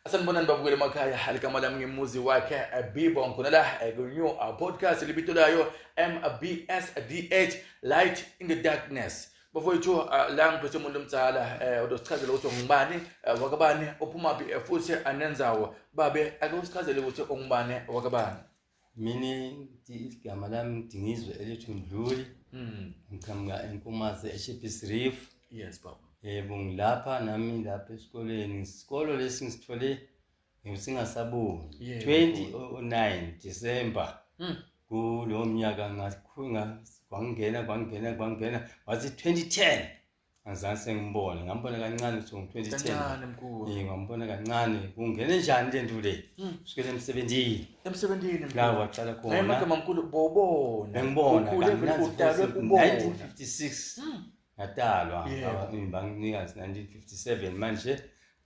Sanibonani babukeli emakhaya aligama lami ngimuzi wakhe eh, Bibo ngikhona la eh, ku-new uh, podcast libito layo MBSDH Light in the Darkness bafowethu uh, la ngiphethe umuntu omdala um odosichazela ukuthi ungubani um wakabani uphumaphi futhi anenzawo babe ake usichazele ukuthi ungubani wakabani mina igama lami ngidingizwe elithi mdluli hmm. ngiqhamuka enkomazi eshepis reef yes baba yebo ngilapha nami lapha esikoleni isikolo lesi ngisithole ngisingasaboni 2009 december hmm. kulowo mnyaka ngangena kwangena kwangena wathi 2010 angizange sengimbone ngambona kancane so ngo-2010 ngambona kancane kungene njani le nto le hmm. sukele emsebenzini emsebenzini la waqala khonamamkhulu bobona ngibona1956 ngatalwa ngibanginikazi 1957 manje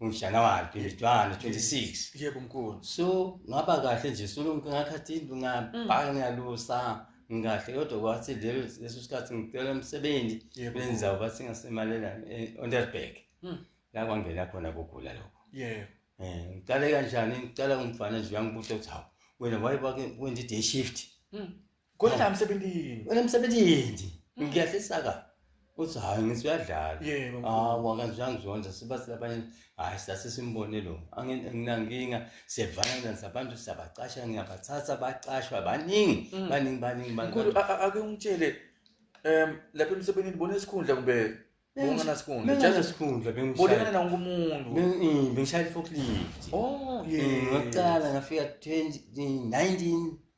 ngoJanuary 21 26 yebo mkhulu so ngaba kahle nje so ngakhathi indlu ngabhaka mm. ngiyalusa ngikahle kodwa kwathi leso sikhathi ngicela umsebenzi benza bathi ngasemalela e-Onderberg mm. la kwangena khona kugula lokho yebo eh ngiqale kanjani ngiqala ngumfana nje uyangibuza ukuthi hawu wena wayibake wenza i-day shift mm. Kodwa emsebenzini. Wena emsebenzini. Mm. Ngiyahlisa ka. Uthi hayi ngithi uyadlala. Yebo. Ah wakanjani zonke siba silabanye hayi sase simbone lo. Anginankinga siyevana nabantu siyabacasha ngiyabathatha bacashwa baningi mm. baningi baningi baningi. Mkhulu ake ungitshele em lapha emsebenzini bona isikhundla kumbe Bungana sikhundla. Ngitshela sikhundla bengishaya. Bolekana na wonke umuntu. Bengi bengishaya forklift. Oh yeah. Ngaqala ngafika 2019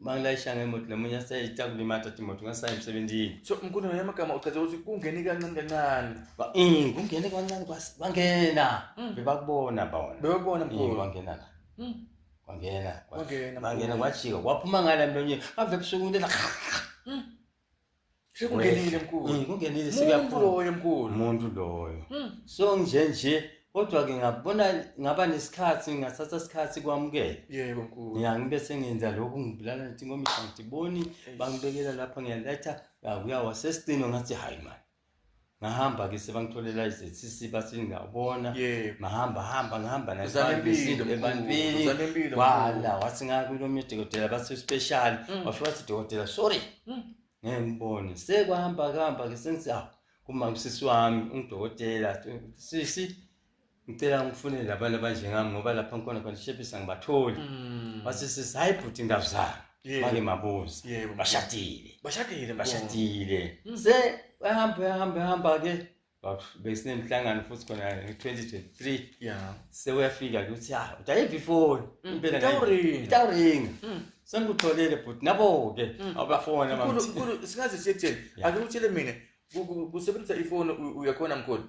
uma ngilayisha ngemoto nomunye aseyita kulimata timoto ngasaya emsebenzini so mkhulu naye amagama uchaze ukuthi kungene kancane kancane um kungene kancane bangena hmm. bebakubona bona bebakubona mkhulu bangena la hmm. bangena bangena kwajika waphuma ngala mlonyeni bave ebusuku into Sekungenile mkhulu. Mm, kungenile Umuntu sekuyaphuma. loyo mkhulu. Umuntu loyo. Mm. So nje nje kodwa ke ngabona ngaba nesikhathi ngathatha isikhathi kwamukela. Yebo mkhulu. Ngiya ngibe sengenza lokhu ngibulala ngithi ngoba ngidiboni bangibekela lapha ngiyaletha akuyawa sesicino ngathi hayi man. ngahamba ke sebangitholela izethisisi bathi ngiyabona mahamba hamba ngihamba nasinto ebantwini wala wathi ngakulomnye udokotela bathi special mm. washo wathi dokotela sorry mm. ngeke ngibone sekwahamba kuhamba ke sengithi awu ah, kuma usisi wami ungidokotela sisi ngicela ngifune labantu abanjengami ngoba lapha ngikhona khona shepisa ngibatholi mm. wathi sisi hayi bhuti ngabuzanga make mabuza bashadile bashadile bashadile mm. se ehamba ehamba ehamba ke besinemhlangano futhi khona nge-2023 ya sewuyafika ke ukuthi ha ah, udayiva ifoni mm. impela itawuringa sengikutholele bhuti nabo-ke abafona singaze siyekutheni ake utshele mina kusebenzisa ifoni uyakhona mkhulu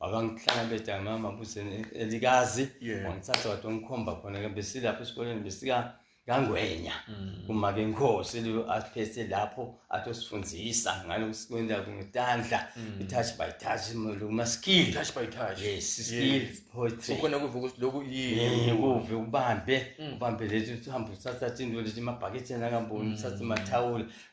wakangihlala bedami mama buseni elikazi wangithatha wade wangikhomba khona ke besilapho esikoleni besika kangwenya mm. kumake inkosi leyo asiphethe lapho atosifundisa ngalo kusikwenza ngitandla mm. itouch by touch uma skill touch by touch yes skill poetry so khona kuvuka ukuthi lokhu yini kuve ubambe mm. ubambe lethi uhamba uthatha into lethi mabhaketheni akamboni uthatha mathawula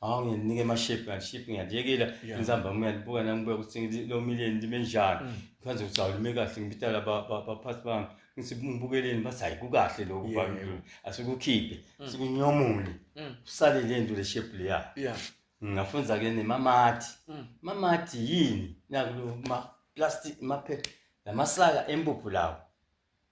hawu ngiyanike amashepu kanti shepu ngiyaliyekela Yeah. insambama ngiyalibuka nami kubuya ukuthi ngili- lo million lime njani Mm. kwanze ukuthi hawu lime kahle ngibitala ba- ba- baphathi bami ngithi ngibukeleni bathi hayi kukahle lokhu Yeah, bami yeah. asikukhiphe Mm. sikunyomule Mm. usale le nto le shepu leya Yeah. ngafunza ke nemamati Mm. mamati yini nakulo ma plastic maphe lamasaka empuphu lawo